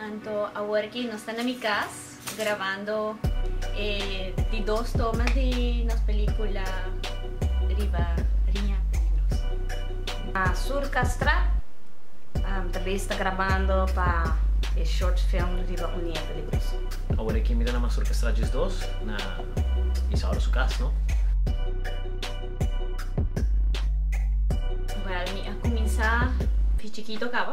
Anto awor ki nos ta na mi cas grabando e di dos tomas di nos pelicula riba riña peligroso. Na Sur Castra ta bes ta grabando pa e short film riba un riña peligroso. Awor ki mi ta na Masur Castra djes dos na Isauro su cas no. Well mi a cuminsa di chikito caba.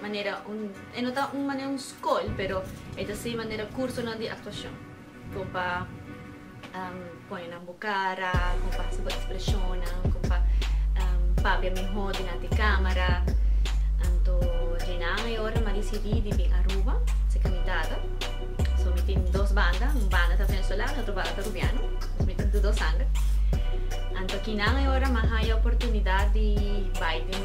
manera un, e no ta un manera un skol, pero e ta ser manera kursonan di aktuashon. Kon pa pone nan bo kara, kon pa hasi bo ekspreshonnan, kon pa papia mihó dinanti e kámara. Anto Djeinan e ora mi a desidí di bin Aruba, ser kandidato. So mi tin dos banda, un banda ta venezolano, otro banda ta rubiano. Entonces mi tin tur dos sanger. Anto kinan e ora mi a haña oportunidat di bai den.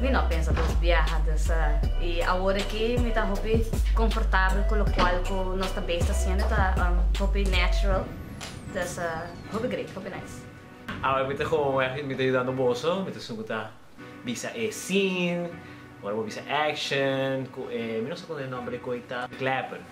Mi no a pensa dos biaha dus a y awor aki mi ta hopi confortabel cu locual cu nos ta base ta haciendo ta hopi natural dus a hopi great hopi nice. Awor mi ta como weg y mi ta yudando boso mi ta sugu ta bisa e scene ora bo bisa action cu e mi no sa con e nomber di koe ta clapper.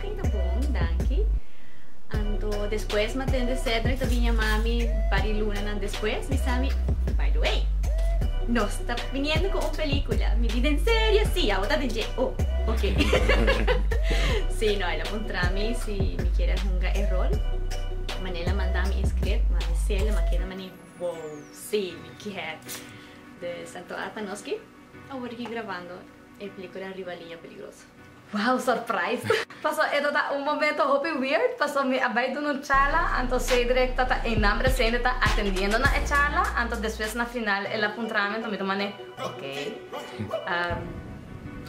Tin ta bon, danki. Anto despues mi a tende Cedric ta bin yama mi par e lunanan despues. Mi sa mi, By the way, nos ta biniendo cu un pelicula. Mi di, Den serio? Si, awor ta den dje. Oh, ok. Si, no, el a puntra mi si mi kere hunga e rol. Mane el a manda mi e script, mi a lese'l, mi a keda mani, Wow, si, mi kier. Dus, anto a pa nos ki awor a yui grabando e pelicula Riba Linea Peligroso. Wow surprise! Paso e tata un momento hopi weird paso mi a bai duna un charla anto Cedric tata Einan presente ta atendiendo na e charla anto despues na final el a puntrami anto mi ta mane ok ehm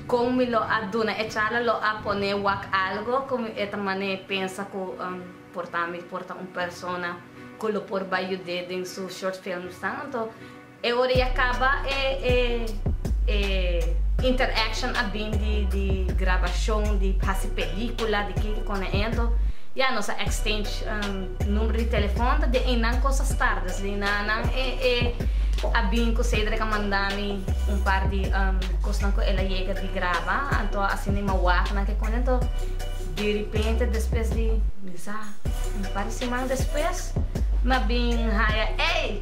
con mi lo a duna e charla lo a pone wak algo cu mi e ta mane pensa cu ehm por ta mi por ta un persona cu lo por bai yude den su short films nan anto E ora ya caba e e e interaction a bin di di grabacion di haci pelicula di kiko kona ento ya nos a exchange number di telefon ta den eynan cosas tardes den eynan nan e e a bin cu Cedric a manda mi un par di cosnan cu el a yega di graba anto asina e mawak nan ke kona ento derepente despues di bisa un par di siman despues mi a bin haya ey.